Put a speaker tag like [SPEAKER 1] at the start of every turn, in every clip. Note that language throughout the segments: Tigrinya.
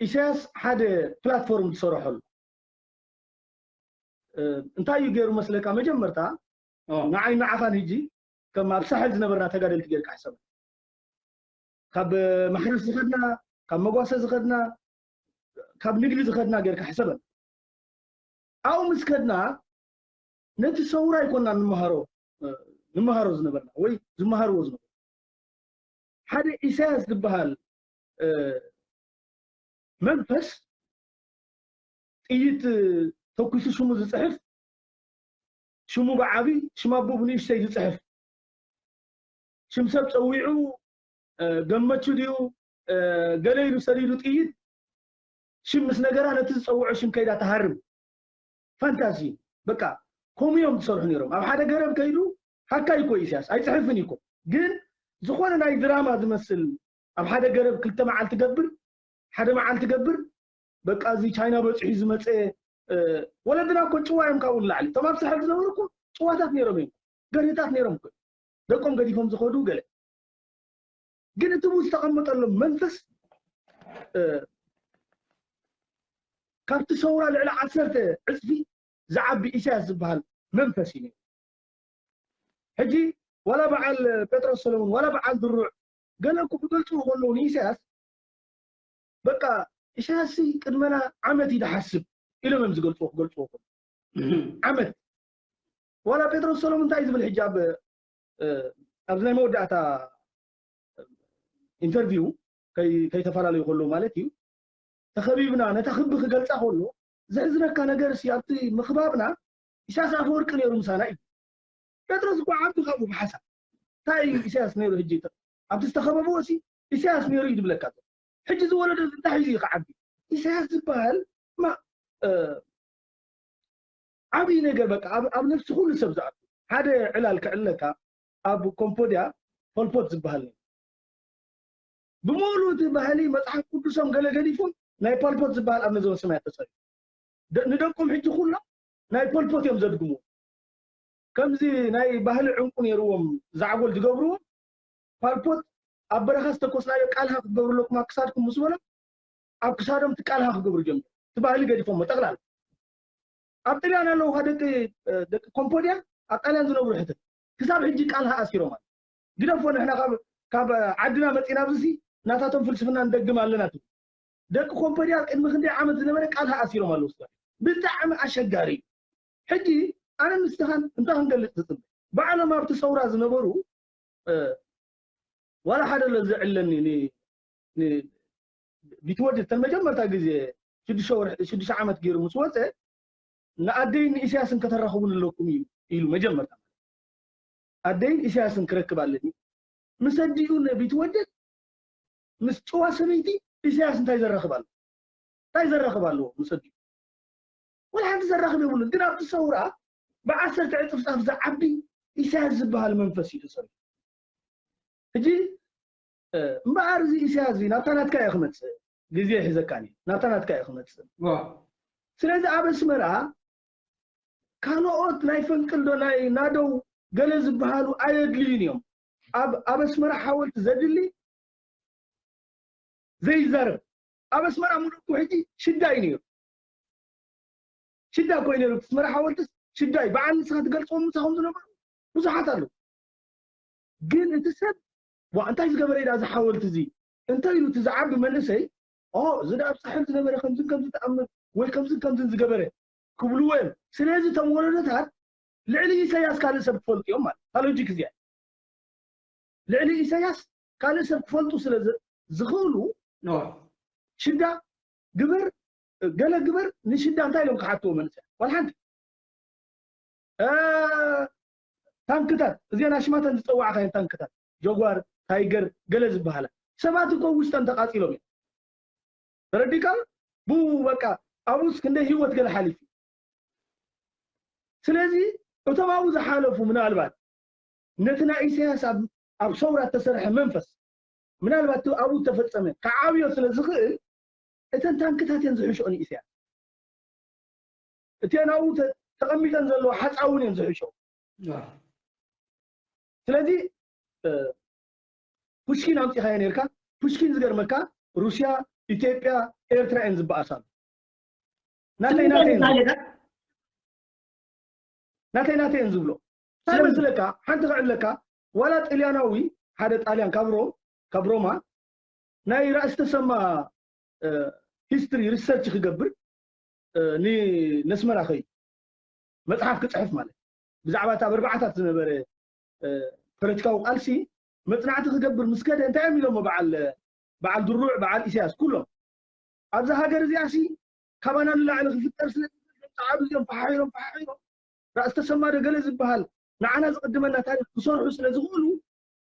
[SPEAKER 1] ኢሰያስ ሓደ ፕላትፎርም ዝሰረሐሉ እንታይ እዩ ገይሩ መስለካ መጀመርታ ንዓይ ንዓኻን ህጂ ከም ኣብ ሳሕል ዝነበርና ተጋደልቲ ጌርካ ሕሰብ ካብ ማሕረስ ዝኸድና ካብ መጓሰ ዝኸድና ካብ ንግዲ ዝኸድና ጌርካ ሕሰበን ኣብኡ ምስ ከድና ነቲ ሰውራ ኣይኮና ንመሃሮ ንመሃሮ ዝነበርና ወይ ዝመሃርዎ ዝነበሩ ሓደ ኢሳያስ ዝበሃል መንፈስ ጥይት ተኩሱ ሽሙ ዝፅሕፍ ሽሙ ብዓብዪ ሽም ኣቦ ብንእሽተይ ዝፅሕፍ ሽም ሰብ ፀዊዑ ገመቹ ድዩ ገለ ኢሉ ሰዲዱ ጥይት ሽም ምስ ነገራ ነቲ ዝፀውዖ ሽም ከይዳ ተሃርም ፋንታዚ በቃ ከምኡ እዮም ዝሰርሑ ነይሮም ኣብ ሓደ ገረብ ከይዱ ሃካ ይኮ ኢሳያስ ኣይፅሕፍን ይኮ ግን ዝኾነ ናይ ድራማ ዝመስል ኣብ ሓደ ገረብ ክልተ መዓልቲ ገብር ሓደ መዓልቲ ገብር በቃ እዚ ቻይና በፂሑ ዝመፀ ወለድና እኮ ጭዋ እዮም ካብኡ ንላዕሊ እቶም ኣብ ሳሕል ዝነበሩ እኮ ጭዋታት ነይሮም እዮም ገርህታት ነይሮም እኮ ደቆም ገዲፎም ዝኸዱ ገለ ግን እቲ ቡ ዝተቐመጠሎም መንፈስ ካብቲ ሰውራ ልዕሊ ዓሰርተ ዕፅፊ ዝዓቢ ኢሳያስ ዝበሃል መንፈስ እዩ ነይሩ ሕጂ ዋላ በዓል ጴጥሮስ ሰለሙን ዋላ በዓል ድሩዕ ገለ እኮ ክገልጽዎ ከለዉ ንኢሳያስ በቃ ኢሳያስሲ ቅድመና ዓመት እዩ ዝሓስብ ኢሎም እዮም ዝገልጽዎ ክገልጽዎ ከለዉ ዓመት ዋላ ጴጥሮስ ሰሎሙ እንታይ እዩ ዝብል ሕጂ ኣብ ኣብዚ ናይ መወዳእታ ኢንተርቪው ከይተፈላለዩ ከለዉ ማለት እዩ ተኸቢብና ነታ ክቢ ክገልጻ ከሎ ዘሕዝነካ ነገር ሲ ኣብቲ ምኽባብና ኢሳያስ ኣፈወርቂ ነይሩ ምሳና እዩ ጴጥሮስ እኳ ዓቢ ካብኡ ብሓሳብ እንታይ እዩ ኢሳያስ ነይሩ ሕጂ ኣብቲ ዝተኸበብዎ ሲ ኢሳያስ ነይሩ እዩ ዝብለካ ዘሎ ሕጂ ዝወለዶ እንታይ ሒዙ እዩ ክዓቢ ኢሳያስ ዝበሃል ማ ዓብዪ ነገር በቃ ኣብ ነፍሲ ኩሉ ሰብ ዝኣቱ ሓደ ዕላል ክዕለካ ኣብ ኮምፖድያ ፖልፖት ዝበሃል ነይሩ ብምሉ እቲ ባህሊ መፅሓፍ ቅዱሶም ገለ ገዲፎም ናይ ፖልፖት ዝበሃል ኣብ ነዞን ስማያ ተፀሪ ንደቆም ሕጂ ኩሎም ናይ ፖልፖት እዮም ዘድግምዎ ከምዚ ናይ ባህሊ ዕንቁ ኔርዎም ዛዕጎል ዝገብርዎ ፓልፖት ኣብ በረኻ ዝተኮስናዮ ቃልሃ ክትገብሩ ኣለኩም ኣብ ክሳድኩም ምስ በሎም ኣብ ክሳዶም እቲ ቃልሃ ክገብሩ ጀመሩ እቲ ባህሊ ገዲፎሞ ጠቅላላ ኣብ ጥልያን ኣለዉ ካ ደቂ ደቂ ኮምፖድያ ኣብ ጣልያን ዝነብሩ ሕተ ክሳብ ሕጂ ቃልሃ ኣሲሮም ኣለ ግደፎ ንሕና ካብ ካብ ዓድና መፂና ኣብዚሲ ናታቶም ፍልስፍና ንደግም ኣለና ትብሉ ደቂ ኮምፖድያ ቅድሚ ክንደይ ዓመት ዝነበረ ቃልሃ ኣሲሮም ኣለዉ ስጋ ብጣዕሚ ኣሸጋሪ እዩ ሕጂ ኣነ ንስኻን እንታይ ክንገልጽ ትጽበ? ባዕሎም ኣብቲ ሰውራ ዝነበሩ ዋላ ሓደ ለዚ ዕለኒ ን ን ቢትወደድ እተን መጀመርታ ግዜ ሽዱሽተ ወርሒ ሽዱሽተ ዓመት ገይሩ ምስ ወጸ ንኣደይን ንኢሳያስን ከተራኽቡን ኣለኩም እዩ ኢሉ መጀመርታ ኣደይን ኢሳያስን ክረክብ ኣለኒ ምስ ኣዲኡ ንቢትወደድ ምስ ጭዋ ሰበይቲ ኢሳያስ እንታይ ዘራኽብ ኣሎ እንታይ ዘራኽብ ኣለዎ ምስ ኣዲኡ ወላ ሓንቲ ዘራኽብ የብሉን ግን ኣብቲ ሰውራ ብዓሰርተ ዕጽፍጻፍ ዝዓቢ ኢሳያስ ዝበሃል መንፈስ እዩ ተሰሪሑ ሕጂ እምበኣር እዚ ኢሳያስ እዚ ናብታ ናትካ እዩ ክመጽእ ግዜ ይሕዘካን እዩ ናብታ ናትካ እዩ ክመጽእ ስለዚ ኣብ ኣስመራ ካልኦት ናይ ፈንቅል ዶ ናይ ናደው ገለ ዝበሃሉ ኣየድልዩን እዮም ኣብ ኣብ ኣስመራ ሓወልቲ ዘድሊ ዘይዛረብ ኣብ ኣስመራ ሙሉኩ ሕጂ ሽዳ እዩ ነይሩ ሽዳ እኮ እዩ ነይሩ እቲ መራሒ ሓወልትስ ሽዳ እዩ በዓል ንስኻ ትገልፅዎም ምሳኹም ዝነበሩ ብዙሓት ኣለዉ ግን እቲ ሰብ ዋ እንታይ ዝገበረ እዩ እዚ ሓወልቲ እዚ እንታይ ኢሉ እቲ ዝዓቢ መንእሰይ ኦ እዚ ደኣ ኣብ ሳሕል ዝነበረ ከምዝን ከምዚ ተኣምር ወይ ከምዝን ከምዝን ዝገበረ ክብልዎ እዮም ስለዚ እቶም ወለዶታት ልዕሊ ኢሳያስ ካልእ ሰብ ክፈልጡ እዮም ማለት እታ ሎጂክ እዚኣ ልዕሊ ኢሳያስ ካልእ ሰብ ክፈልጡ ስለ ዝኽእሉ ሽዳ ግብር ገለ ግበር ንሽዳ እንታይ ኢሎም ክሓትዎ መንእሰያት ዋላ ሓንቲ ታንክታት እዚአን ኣሽማተን ዝፀዋዕካየን ታንክታት ጀጓር ታይገር ገለ ዝበሃላ ሰባት እኮ ውሽጠን ተቃፂሎም እዮም ተረዲካ ብኡ በቃ ኣብኡስ ክንደይ ህይወት ገለ ሓሊፉ ስለዚ እቶም ኣብኡ ዝሓለፉ ምናልባት ነቲ ናይ ኢሳያስ ኣብ ሰውራ እተሰርሐ መንፈስ ምናልባት ኣብኡ ተፈፀመ ክዓብዮ ስለ ዝኽእል እተን ታንክታት እየን ዝሕሸኦ ንኢሰያስ። እቲኤን ኣብኡ ተቐሚጠን ዘለዋ ሓጻ እውን እየን ዝሕሸኦ። ስለዚ ፑሽኪን ኣምጺኻዮ ነርካ ፑሽኪን ዝገርመካ ሩስያ ኢትዮጵያ ኤርትራ እየን ዝበኣሳሉ ናተይ ናተይ ናተይ ናተይ እየን ዝብሎ እንታይ መስለካ ሓንቲ ክዕለካ ዋላ ጥልያናዊ ሓደ ጣልያን ካብ ሮም ካብ ሮማ ናይ ራእሲ ተሰማ ሂስትሪ ሪሰርች ክገብር ንኣስመራ ከይዱ መጽሓፍ ክጽሕፍ ማለት ብዛዕባ እታ በርባዓታት ዝነበረ ፖለቲካዊ ቃልሲ መጽናዕቲ ክገብር ምስ ከደ እንታይ እዮም ኢሎሞ በዓል በዓል ድሩዕ በዓል ኢሳያስ ኩሎም ኣብዚ ሃገር እዚኣ ሲ ካባና ንላዕሊ ክፍጠር ስለ ጸዓዱ እዚኦም ፈሓሒሮም ፈሓሒሮም ራእሲ ተሰማ ዶ ገለ ዝበሃል ንዓና ዝቕድመና ታሪክ ክሰርሑ ስለ ዝኽእሉ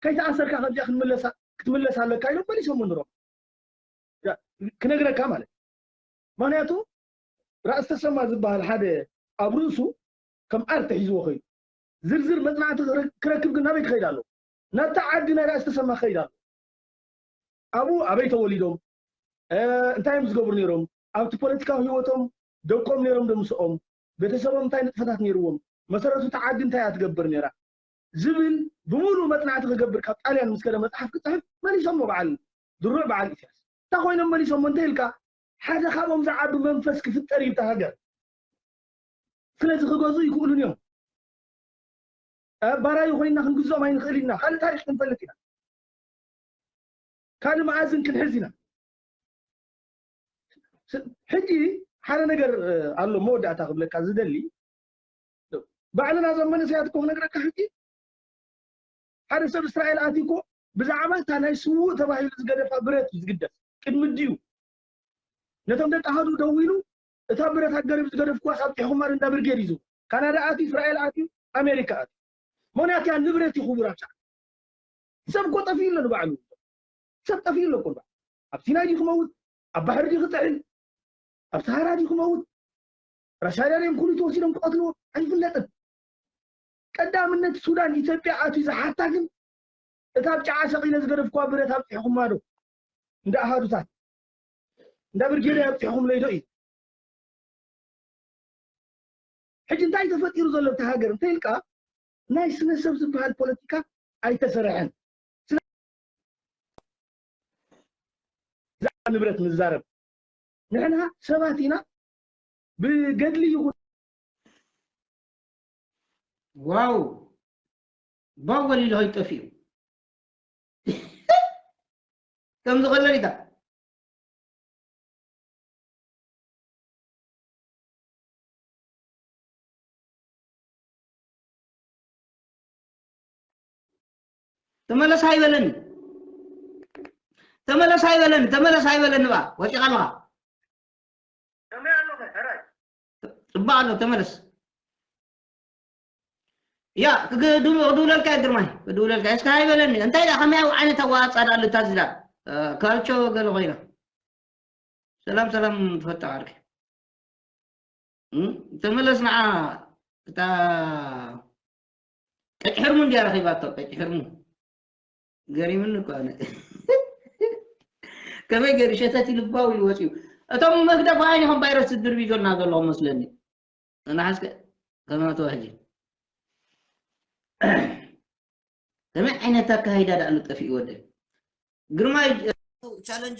[SPEAKER 1] ከይተኣሰርካ ከምዚኣ ክንምለሳ ክትምለስ ኣለካ ኢሎም መሊሶም ንሮም ክነግረካ ማለት ምክንያቱ ራእስ ተሰማ ዝበሃል ሓደ ኣብ ርእሱ ከም ኣርት ሒዝዎ ከይዱ ዝርዝር መፅናዕቲ ክረክብ ግን ናበይ ክኸይድ ኣለዎ ናብታ ዓዲ ናይ ራእስ ተሰማ ክኸይድ ኣለዎ ኣብኡ ኣበይ ተወሊዶም እንታይ እዮም ዝገብሩ ነይሮም ኣብቲ ፖለቲካዊ ህይወቶም ደቆም ነይሮም ዶ ምስኦም ቤተሰቦም እንታይ ንጥፈታት ነይርዎም መሰረቱ እቲ ዓዲ እንታይ እያ ትገብር ነይራ ዝብል ብምሉኡ መጽናዕቲ ክገብር ካብ ጣልያን ምስ ከደ መጽሓፍ ክጽሕፍ መሊሶሞ በዓል ድሩዕ በዓል ኢሳያስ እንታይ ኮይኖም መሊሶሞ እንተ ኢልካ ሓደ ካብኦም ዝዓቢ መንፈስ ክፍጠር እዩ እታ ሃገር ስለዚ ክገዝኡ ይክእሉን እዮም ባራዩ ኮይና ክንግዝኦም ኣይንክእል ኢና ካልእ ታሪክ ክንፈልጥ ኢና ካልእ መኣዝን ክንሕዝ ኢና ሕጂ ሓደ ነገር ኣሎ መወዳእታ ክብለካ ዝደሊ ባዕልና እዞም መንእሰያት እኮ ክነግረካ ሕጂ ሓደ ሰብ እስራኤል ኣትዩ እኮ ብዛዕባ እታ ናይ ስውእ ተባሂሉ ዝገደፋ ብረት እዩ ዝግደፍ ቅድሚ ድዩ ነቶም ደቂ ኣሃዱ ደው ኢሉ እታ ብረት ኣገሪብ ዝገደፍኩዋ ካብ ጢሕኹማን እንዳ ብርጌድ ይዙ ካናዳ ኣትዩ እስራኤል ኣትዩ ኣሜሪካ ኣትዩ ምክንያት እያ ንብረት እዩ ክቡር ኣብሻዕ ሰብ እኮ ጠፍኡ ኣሎ ንባዕሉ ሰብ ጠፍኡ ኣሎ እኮ ንባዕሉ ኣብ ሲናይ ድዩ ክመውት ኣብ ባሕሪ ድዩ ክጥዕል ኣብ ሰሃራ ድዩ ክመውት ራሻዳድዮም ኩሉቲ ወሲዶም ክቀትልዎ ኣይፍለጥን ቀዳምነት ሱዳን ኢትዮጵያ ኣትዩ ዝሓታ ግን እታ ብ ጨዓ ሰቂለ ዝገደፍኩዋ ብረት ኣብጺሕኹማ ዶ እንዳ ኣሃዱታት እንዳ ብርጌደይ ኣብጺሕኹምለይ ዶ እዩ ሕጂ እንታይ ተፈጢሩ ዘሎ እታ ሃገር እንተይልካ ናይ ስነ ሰብ ዝበሃል ፖለቲካ ኣይተሰረሐን ንብረት ንዛረብ ንሕና ሰባት ኢና ብገድሊ ይኹን
[SPEAKER 2] ዋው ባው ወሊሉ ከይጠፍኡ ከምዚ ከለን ኢታ ተመለስ ኣይበለኒ ተመለስ ኣይበለኒ ተመለስ ኣይበለኒ ባ ወጪኻ ኣለኻ ከመይ ኣሎኸ ሕራይ? ጽቡቕ ኣሎ ተመለስ። ያ ክድውለልካ እዩ ግርማይ ክድውለልካ እስካ ኣይበለኒ እንታይ ዳ ከመይ ዓይነት ኣዋፃ ዳ ኣሉታ ዝዳ ካልቾ ገለ ኮይና ሰላም ሰላም ፈታ ዓርኪ ተመለስ ንዓ እታ ቀጭ ሕርሙ እንዲያ ረኺባቶ ቀጭ ሕርሙ ገሪሙኒ እኮ ኣነ ከመይ ገይሩ ሸተት ልባው ኢሉ ወፂኡ እቶም መግደፋ እዮም ቫይረስ ዝድርቢጆና ዘለዎም መስለኒ ንሓስከ ከመይ ተዋህጂ ከመይ ዓይነት ኣካይዳ ዳኣሉ ጠፊኡ ወደ ግርማይ ቻለንጅ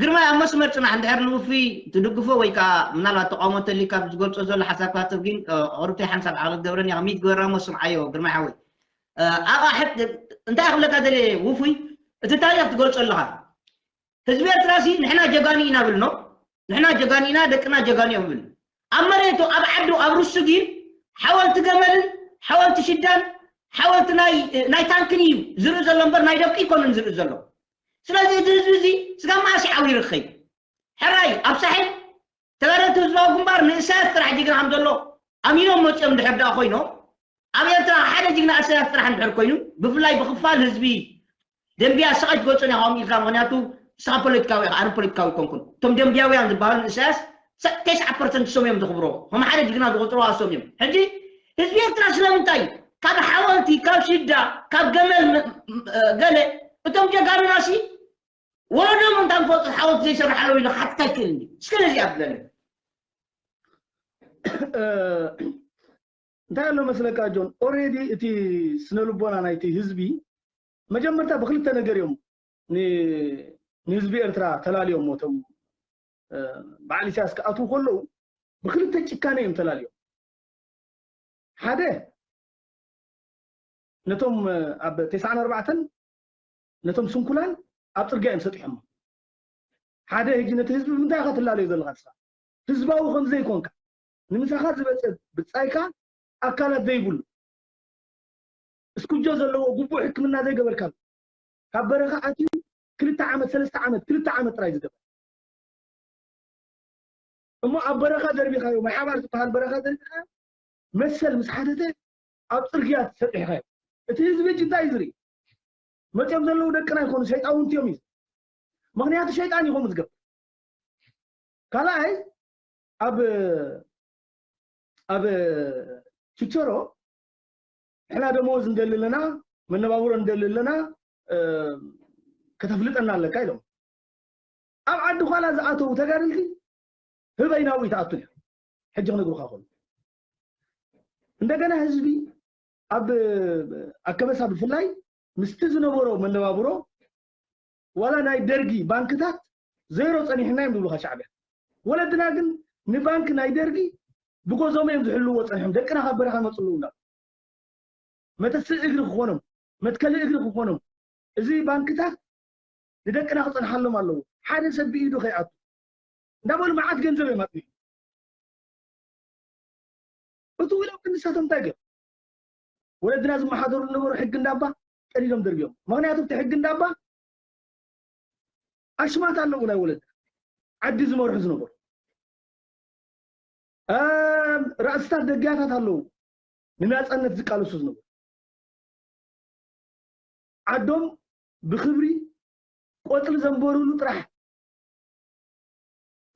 [SPEAKER 2] ግርማይ ኣብ መስመር ጽናሕ እንድሕር ንውፍይ ትድግፎ ወይ ከኣ ምናልባት ተቃውሞ እንተልዩካ ኣብ ዝገልጾ ዘሎ ሓሳብ ክትኣትፍ ግን ቁርብተይ ሓንሳብ ዓቕሊ ክትገብረኒ ኢኻ ሚት ግበራ እሞ ስምዓዮ ግርማይ ሓወይ ኣብኣ ሕት እንታይ ክብለካ ደልየ ውፉይ እቲ ታሪኽ ትገልጾ ኣለኻ ህዝቢ ኤርትራ ሲ ንሕና ጀጋኑ ኢና ብልኖ ንሕና ጀጋኑ ኢና ደቅና ጀጋኑ እዮም ይብል ኣብ መሬቱ ኣብ ዓዱ ኣብ ርሱ ግን ሓወልቲ ገመልን ሓወልቲ ሽዳን ሓወልቲ ናይ ታንክን እዩ ዝርኢ ዘሎ እምበር ናይ ደቂ ኣይኮነን ዝርኢ ዘሎ ስለዚ እዚ ህዝቢ እዚ ስጋ መዓስ እዩ ዓው ይርኸይ ሕራይ ኣብ ሳሕል ተጋደልቲ ህዝባዊ ግንባር ንእሳያስ ጥራሕ ጅግና ከም ዘሎ ኣሚኖም መፅኦም ድሕር ደኣ ኮይኖም ኣብ ኤርትራ ሓደ ጅግና እሳያስ ጥራሕ እንድሕር ኮይኑ ብፍላይ ብክፋል ህዝቢ ደምብያ ሰቐጅ ገጹን ኢኻ ኦም ኢልካ ምኽንያቱ ንስኻ ፖለቲካዊ ኢኻ ኣነ ፖለቲካዊ ኣይኮንኩን እቶም ደምብያውያን ዝበሃሉ ንእሳያስ ተስዓ ፐርሰንት እሶም እዮም ዝኽብርዎ ከም ሓደ ጅግና ዝቖጽርዎ ኣሶም እዮም ሕጂ ህዝቢ ኤርትራ ስለምንታይ እዩ ካብ ሓወልቲ ካብ ሽዳ ካብ ገመል ገለ እቶም ጀጋኑና ሲ ወለዶም እንታ ንፈልጦ ሓወልቲ ዘይሰራሓሎም ኢሉ ክሓትት ኣይክእልን እዩ እስከ ነዚኣ ብለለይ
[SPEAKER 1] እንታይ ኣሎ መስለካ ጆን ኦሬዲ እቲ ስነልቦና ናይቲ ህዝቢ መጀመርታ ብክልተ ነገር እዮም ንህዝቢ ኤርትራ ተላልዮሞ እቶም በዓል ኢሳያስ ክኣትዉ ከለዉ ብክልተ ጭካነ እዮም ተላልዮም ሓደ ነቶም ኣብ ተስዓን ኣርባዕተን ነቶም ስንኩላን ኣብ ፅርግያ እዮም ሰጢሖሞ ሓደ ህጂ ነቲ ህዝቢ ብምንታይ ኢኻ ትላለዮ ዘለኻ ንስኻ ህዝባዊ ከምዘይኮንካ ንምሳኻ ዝበጸ ብጻይካ ኣካላት ዘይብሉ እስኩጆ ዘለዎ ግቡእ ሕክምና ዘይገበርካሉ ካብ በረኻ ኣትዩ ክልተ ዓመት ሰለስተ ዓመት ክልተ ዓመት ጥራይ ዝገበር እሞ ኣብ በረኻ ዘርቢኻዮ ማሓባር ዝበሃል በረኻ ዘርቢኻዮ መሰል ምስ ሓተተ ኣብ ፅርግያ ተሰጢሕኻዮ እቲ ህዝቢ እጅ እንታይ እዩ ዝርኢ መፅኦም ዘለዉ ደቅና ይኮኑ ሸይጣውንቲ እዮም እዩ ምክንያቱ ሸይጣን ይኹም ዝገብር ካልኣይ ኣብ ኣብ ችቸሮ ንሕና ደመወዝ ንደሊ ኣለና መነባብሮ ንደሊ ኣለና ከተፍልጠና ኣለካ ኢሎም ኣብ ዓዲ ኋላ ዝኣተው ተጋደልቲ ህበይ ናብኡ ይትኣቱ እዮም ሕጂ ክነግሩካ ኮኑ እንደገና ህዝቢ ኣብ ኣከበሳ ብፍላይ ምስቲ ዝነበሮ መነባብሮ ዋላ ናይ ደርጊ ባንክታት ዜሮ ጸኒሕና እዮም ዝብሉኻ ሻዕብያ። ወለድና ግን ንባንኪ ናይ ደርጊ ብጎዞም እዮም ዝሕልውዎ ጸኒሖም ደቅና ካብ በረኻ ይመጹ ኣለዉ እንዳ መተስእ እግሪ ክኾኖም መትከሊ እግሪ ክኾኖም እዚ ባንክታት ንደቅና ክጸንሓሎም ኣለዎ ሓደ ሰብ ብኢዱ ከይኣቱ እንዳበሉ መዓት ገንዘብ እዮም ኣጥሚሑ እቲ ውሎም ክንሳቶም እንታይ ገብ ወለድና ዝመሓደሩ ዝነበሩ ሕጊ እንዳባ ቀዲዶም ደርብዮም ምክንያቱ እቲ ሕጊ እንዳባ ኣሽማት ኣለዉ ናይ ወለድ ዓዲ ዝመርሑ ዝነበሩ ራእስታት ደግያታት ኣለዉ ንናፀነት ዝቃለሱ ዝነበሩ ዓዶም ብክብሪ ቆፅሊ ዘንበሩሉ ጥራሕ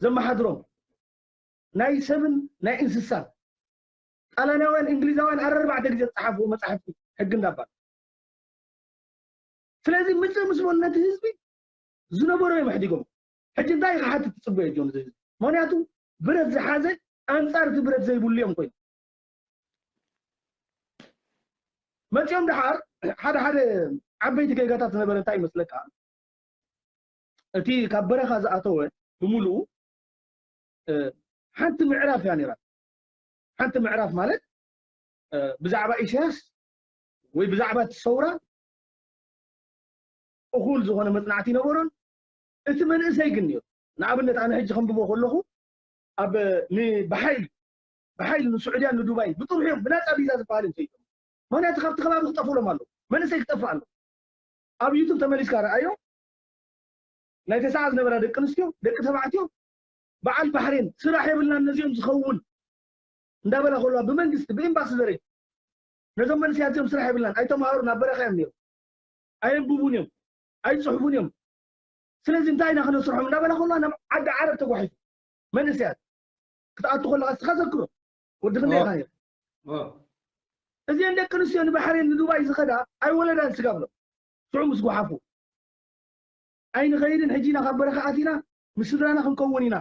[SPEAKER 1] ዘመሓድሮም ናይ ሰብን ናይ እንስሳን ጣልያናውያን እንግሊዛውያን ኣረርባዕተ ግዜ ዝጸሓፍዎ መጻሕፍቲ ሕጊ እንዳ ባር ስለዚ ምጽእ ምስ በሉ ነቲ ህዝቢ ዝነበሮ እዮም ኣሕዲጎም ሕጂ እንታይ ክሓትት ትጽበዮ ጆን እዚ ህዝቢ ምክንያቱ ብረት ዝሓዘ ኣንጻር እቲ ብረት ዘይብሉ እዮም ኮይኑ መጺኦም ደሓር ሓደ ሓደ ዓበይቲ ጌጋታት ዝነበረ እንታይ ይመስለካ እቲ ካብ በረኻ ዝኣተወ ብምልኡ ሓንቲ ምዕራፍ እያ ነይራ ሓንቲ ምዕራፍ ማለት ብዛዕባ ኢሳያስ ወይ ብዛዕባ እቲ ሰውራ እኹል ዝኾነ መጽናዕቲ ይነበሮን እቲ መንእሰይ ግን ነይሩ ንኣብነት ኣነ ሕጂ ከንብቦ ከለኹ ኣብ ብሓይሊ ብሓይሊ ንስዑድያን ንዱባይን ብጥርሑ እዮም ብናፃ ቪዛ ዝበሃል እዮም ሰይዶም ምክንያቱ ካብቲ ከባቢ ክጠፍእሎም ኣለዉ መንእሰይ ክጠፍእ ኣለዎ ኣብ ዩቱብ ተመሊስካ ረኣዮ ናይ ተሰዓ ዝነበራ ደቂ ኣንስትዮ ደቂ ተባዕትዮ በዓል ባሕሬን ስራሕ የብልናን ነዚኦም ዝኸውን እንዳበላ ከለዋ ብመንግስቲ ብኤምባሲ ዘረይ ነዞም መንስያት እዚኦም ስራሕ የብልናን ኣይተምሃሩን ኣብ በረኻ እዮም ነይሮም ኣየንብቡን እዮም ኣይፅሕፉን እዮም ስለዚ እንታይ ኢና ክነስርሖም እንዳበላ ከለዋ ናብ ዓዲ ዓረብ ተጓሒፉ መንእሰያት ክትኣቱ ከለካ እስኻ ዘክሮ ወዲ ክንደይ ኢኻ ነይሩ እዚአን ደቂ ኣንስትዮ ንባሕሬን ንዱባይ ዝኸዳ ኣይወለዳን ስጋብሎም ሽዑ ምስ ጓሓፉ ኣይንኸይድን ሕጂ ኢና ካብ በረኻ ኣቲና ምስ ስድራና ክንከውን ኢና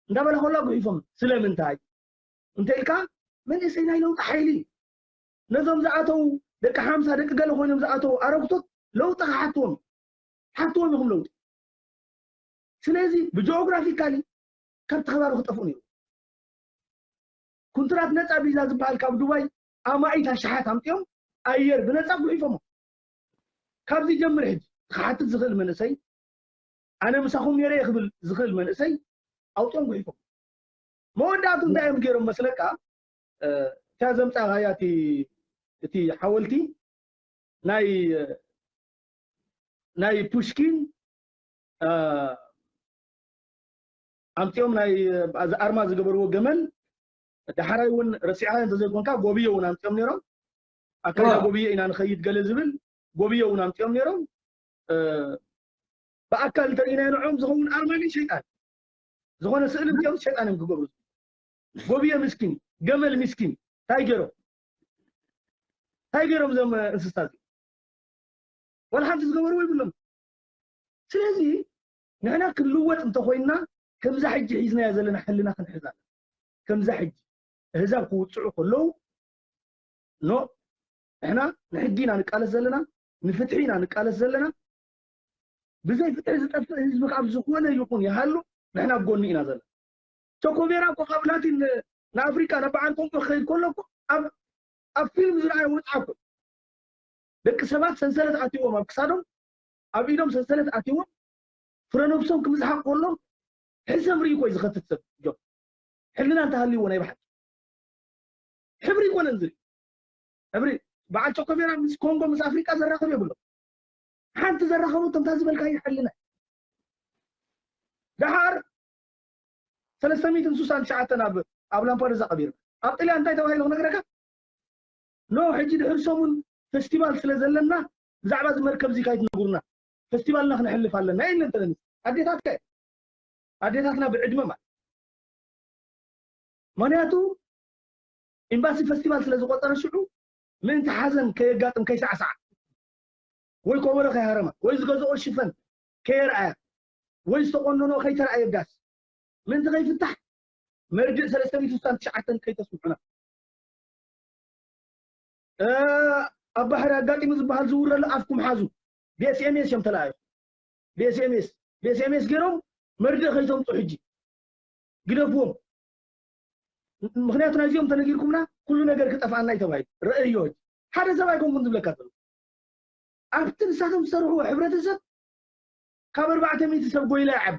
[SPEAKER 1] እንዳበለ ከሎ ጉሒፎም ስለምንታይ እንተኢልካ መንእሰይ ናይ ለውጢ ሓይሊ እዩ ነዞም ዝኣተው ደቂ ሓምሳ ደቂ ገለ ኮይኖም ዝኣተው ኣረግቶት ለውጢ ክሓትዎም ሓትዎም ኢኹም ለውጢ ስለዚ ብጂኦግራፊካሊ ካብቲ ከባቢ ክጠፍኡ ነይሩ ኩንትራት ነፃ ቪዛ ዝበሃል ካብ ዱባይ ኣማኢት ኣሽሓት ኣምፅኦም ኣየር ብነፃ ጉሒፎሞ ካብዚ ጀምር ሕጂ ክሓትት ዝኽእል መንእሰይ ኣነ ምሳኹም ኔረ እየ ክብል ዝኽእል መንእሰይ ኣውጺኦም ጉሒፎም መወዳእቱ እንታይ እዮም ገይሮም መስለካ እታ ዘምጻኻያ እቲ እቲ ሓወልቲ ናይ ናይ ፑሽኪን ኣምጺኦም ናይ ኣርማ ዝገበርዎ ገመል ዳሕራይ እውን ረሲዕካ እንተዘይኮንካ ጎብዮ እውን ኣምጺኦም ነይሮም ኣካይዳ ጎብዮ ኢና ንኸይድ ገለ ዝብል ጎብዮ እውን ኣምጺኦም ነይሮም ብኣካል እንተሪኢናዮ ንዕኦም ዝኸውን ኣርማ ግን ሸይጣን ዝኾነ ስእሊ ገይሩ ሸይጣን እዮም ክገብሩ ጎብየ ምስኪን ገመል ምስኪን እንታይ ገይሮም እንታይ ገይሮም እዞም እንስሳ እዚ ወላ ሓንቲ ዝገበርዎ ይብሎም ስለዚ ንሕና ክንልወጥ እንተኮይንና ከምዛ ሕጂ ሒዝናዮ ዘለና ሕልና ክንሕዛ ከምዛ ሕጂ እህዛብ ክውፅዑ ከለዉ ኖ ንሕና ንሕጊ ኢና ንቃለስ ዘለና ንፍትሒ ኢና ንቃለስ ዘለና ብዘይ ፍትሒ ዝጠፍእ ህዝቢ ካብ ዝኾነ ይኹን ይሃሉ ንሕና ኣብ ጎኒ ኢና ዘለና ቸኮቤራ እኮ ካብ ላቲን ንኣፍሪቃ ናብ በዓል ቆንቆ ክኸይድ ከሎ እኮ ኣብ ኣብ ፊልም ዝረኣየ ወፅዓ እኮ ደቂ ሰባት ሰንሰለት ኣትዎም ኣብ ክሳዶም ኣብ ኢዶም ሰንሰለት ኣትዎም ፍረ ነብሶም ክምዝሓቕ ከሎም ሕሰም ርኢ ኮይ ዝኸትት ሰብ ጆ ሕልና እንተሃልይዎ ናይ ባሓቂ ሕብሪ ይኮነን ዝርኢ ሕብሪ በዓል ቾኮሜራ ምስ ኮንጎ ምስ ኣፍሪቃ ዘራኽብ የብሎም ሓንቲ ዘራኸቦ ከምታ ዝበልካዮ ሕልና ደሓር ሰለስተ ሚእትን ስሳን ትሽዓተን ኣብ ኣብ ላምፓዱዛ ቀቢርና ኣብ ጥልያን እንታይ ተባሂሉ ክነግረካ ኖ ሕጂ ድሕሪ ሰሙን ፈስቲቫል ስለ ዘለና ብዛዕባ እዚ መርከብ እዚ ካይትነግሩና ፈስቲቫልና ክነሕልፍ ኣለና የለ እንተለኒ ኣዴታት ከ ኣዴታትና ብዕድመ ማለት ምክንያቱ ኢምባሲ ፈስቲቫል ስለ ዝቖጸረ ሽዑ ምእንቲ ሓዘን ከየጋጥም ከይሳዕሳዓ ወይ ኮቦሮ ከይሃረማ ወይ ዝገዝኦ ሽፈን ከየርኣያ ወይ ዝተቖነንኦ ከይተርኣየ ዳስ ምእንቲ ከይፍታሕ መርድእ ሰለስተ ሚእቲ ስሳን ትሽዓተን ከይተስምዑና ኣብ ባሕሪ ኣጋጢሙ ዝበሃል ዝውረሉ ኣፍኩም ሓዙ ብኤስኤምኤስ እዮም ተለኣዩ ብኤስኤምኤስ ብኤስኤምኤስ ገይሮም መርድእ ከይተምፁ ሕጂ ግደፍዎም ምክንያቱ ናይዚኦም ተነጊርኩምና ኩሉ ነገር ክጠፍኣና እዩ ተባሂሉ ረእዮች ሓደ ሰብ ኣይኮንኩን ዝብለካ ዘሎ ኣብቲ ንሳቶም ዝሰርሕዎ ሕብረተሰብ ካብ ኣርባዕተ ሚእቲ ሰብ ጎይላ ይዓቢ